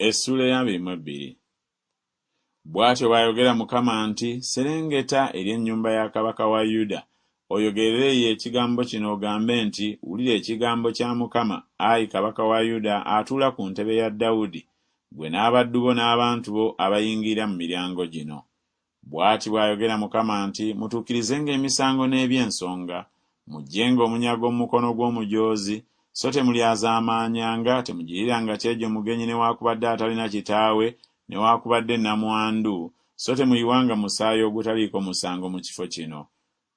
Essuula ey'abiri mu ebbiri. Bw'atyo bw'ayogera Mukama nti, Serengeta eri ennyumba ya kabaka wa Yuda, oyogerere ye ekigambo kino ogambe nti, Wulira ekigambo kya Mukama, ayi kabaka wa Yuda atuula ku ntebe ya Dawudi, ggwe n'abaddu bo n'abantu bo abayingira mu miryango gino. Bw'ati bw'ayogera Mukama nti, Mutuukirizenga emisango n'eby'ensonga, muggyenga omunyago mu mukono gw'omujoozi, so temulyazaamaanyanga, temugiriranga kyejo mugenyi newaakubadde atalina kitaawe, newaakubadde nnamwandu, so temuyiwanga musaayi ogutaliiko musango mu kifo kino.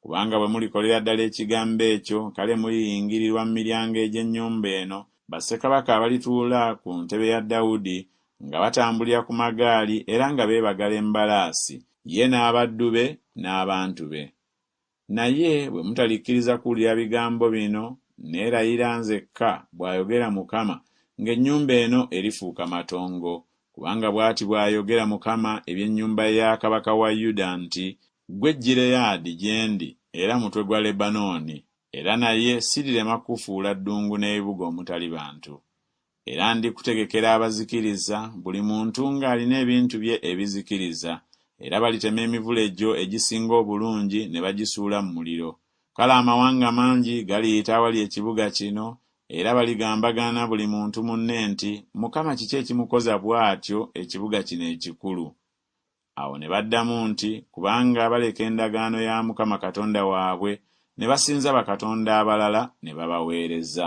Kubanga bwe mulikolera ddala ekigambo ekyo, kale muliyingirirwa mu miryango egy'ennyumba eno, bassekabaka abalituula ku ntebe ya Dawudi, nga batambulira ku magaali era nga beebagala embalaasi, ye n'abaddu be n'abantu be. Naye bwe mutalikkiriza kuwulira bigambo bino, nneerayira nzekka, bw'ayogera Mukama, ng'ennyumba eno erifuuka matongo, Kubanga bw'ati bw'ayogera Mukama eby'ennyumba ya kabaka wa Yuda nti, Ggwe Gireyaadi gye ndi era mutwe gwa Lebanooni, era naye sirirema kukufuula ddungu n'ebibuga omutali bantu. Era ndikutegekera abazikiriza, buli muntu ng'alina ebintu bye ebizikiriza, era balitema emivule gyo egisinga obulungi ne bagisuula mu muliro, Kale amawanga mangi galiyita awali ekibuga kino, era baligambagana buli muntu munne nti, Mukama kiki ekimukoza bw'atyo ekibuga kino ekikulu? Awo ne baddamu nti, Kubanga baleka endagaano ya Mukama Katonda waabwe, ne basinza bakatonda abalala ne babaweereza.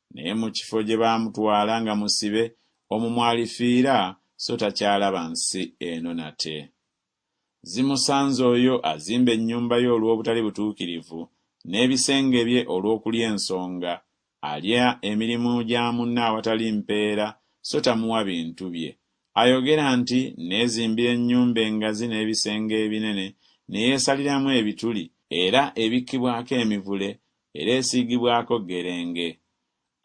Naye mu kifo gye baamutwala nga musibe, omwo mw'alifiira, so takyalaba nsi eno nate. Zimusanze oyo azimba ennyumba ye olw'obutali butuukirivu, n'ebisenge bye olw'okulya ensonga, alya emirimu gya munne awatali mpeera, so tamuwa bintu bye. Ayogera nti, Nneezimbira ennyumba engazi n'ebisenge ebinene, ne yeesaliramu ebituli, era ebikkibwako emivule, era esiigibwako ggerenge.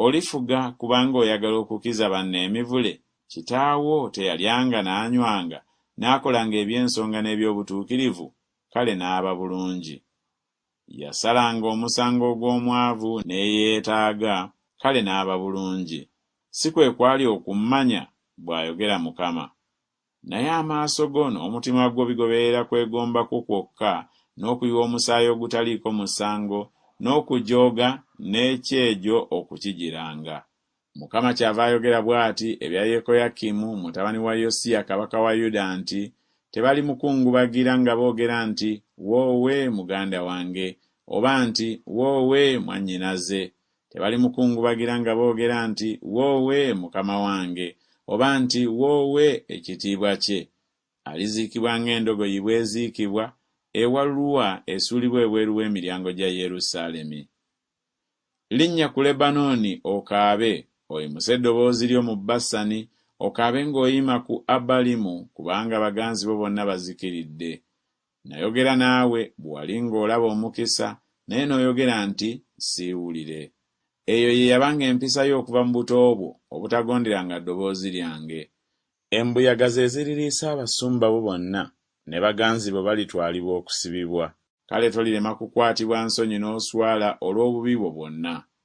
Olifuga kubanga oyagala okukiza banno emivule kitaawo teyalyanga n'anywanga n'akolanga eby'ensonga n'eby'obutuukirivu, kale n'aba bulungi. Yasalanga omusango ogw'omwavu n'eyeetaaga, kale n'aba bulungi. Si kwe kwali okummanya? bw'ayogera Mukama. Naye amaaso go n'omutima gwo bigoberera kwegomba kwo kwokka, n'okuyiwa omusaayi ogutaliiko musango, n'okujooga, n'ekyejo okukijiranga. Mukama kyava ayogera bw'ati ebya Yekoyakimu mutabani wa Yosiya kabaka wa Yuda nti, Tebalimukungubagira nga boogera nti, Woowe, muganda wange! oba nti, Woowe, mwannyinaze! Tebalimukungubagira nga boogera nti, Woowe, Mukama wange! oba nti, Woowe, ekitiibwa kye! Aliziikibwa ng'endogoyi bw'eziikibwa, ewalulwa esuulibwa ebweru w'emiryango gya Yerusaalemi. Linnya ku Lebanooni okaabe, oyimuse eddoboozi lyo mu Basani, okaabe ng'oyima ku Abalimu, kubanga baganzi bo bonna bazikiridde. Nnayogera naawe bwe wali ng'olaba omukisa, naye n'oyogera nti, Siiwulire. Eyo ye yabanga empisa yo okuva mu buto bwo, obutagonderanga ddoboozi lyange. Embuyaga ze ziririisa abasumba bo bonna, ne baganzi bo balitwalibwa okusibibwa. Kale tolirema kukwatibwa nsonyi n'oswala olw'obubi bwo bwonna.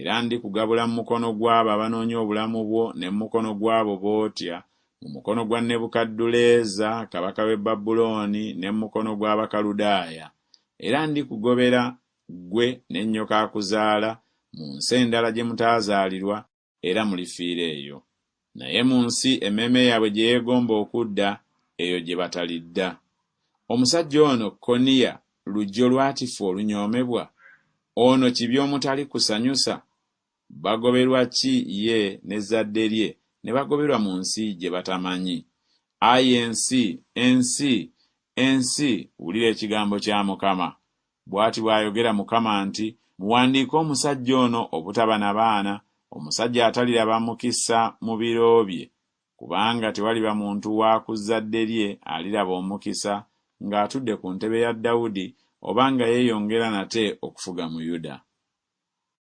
Era ndikugabula mu mukono gw'abo abanoonya obulamu bwo ne mu mukono gw'abo b'otya, mu mukono gwa Nebukadduleeza kabaka w'e Babulooni ne mu mukono gw'Abakaludaaya. Era ndikugobera, ggwe ne nnyoko akuzaala, mu nsi endala gye mutaazaalirwa, era mulifiira eyo. Naye mu nsi emmeeme yaabwe gye yeegomba okudda, eyo gye batalidda. Omusajja ono Koniya lujjo lwatifu olunyoomebwa? Ono kibi omutali kusanyusa? Bagoberwa ki ye n'ezzadde lye ne bagoberwa mu nsi gye batamanyi? Ayi ensi, ensi, ensi, wulira ekigambo kya Mukama, Bw'ati bw'ayogera Mukama nti, Muwandiike omusajja ono obutaba na baana, omusajja ataliraba mukisa mu biro bye, kubanga tewaliba muntu wa ku zzadde lye aliraba omukisa ng'atudde ku ntebe ya Dawudi oba nga yeeyongera nate okufuga mu Yuda.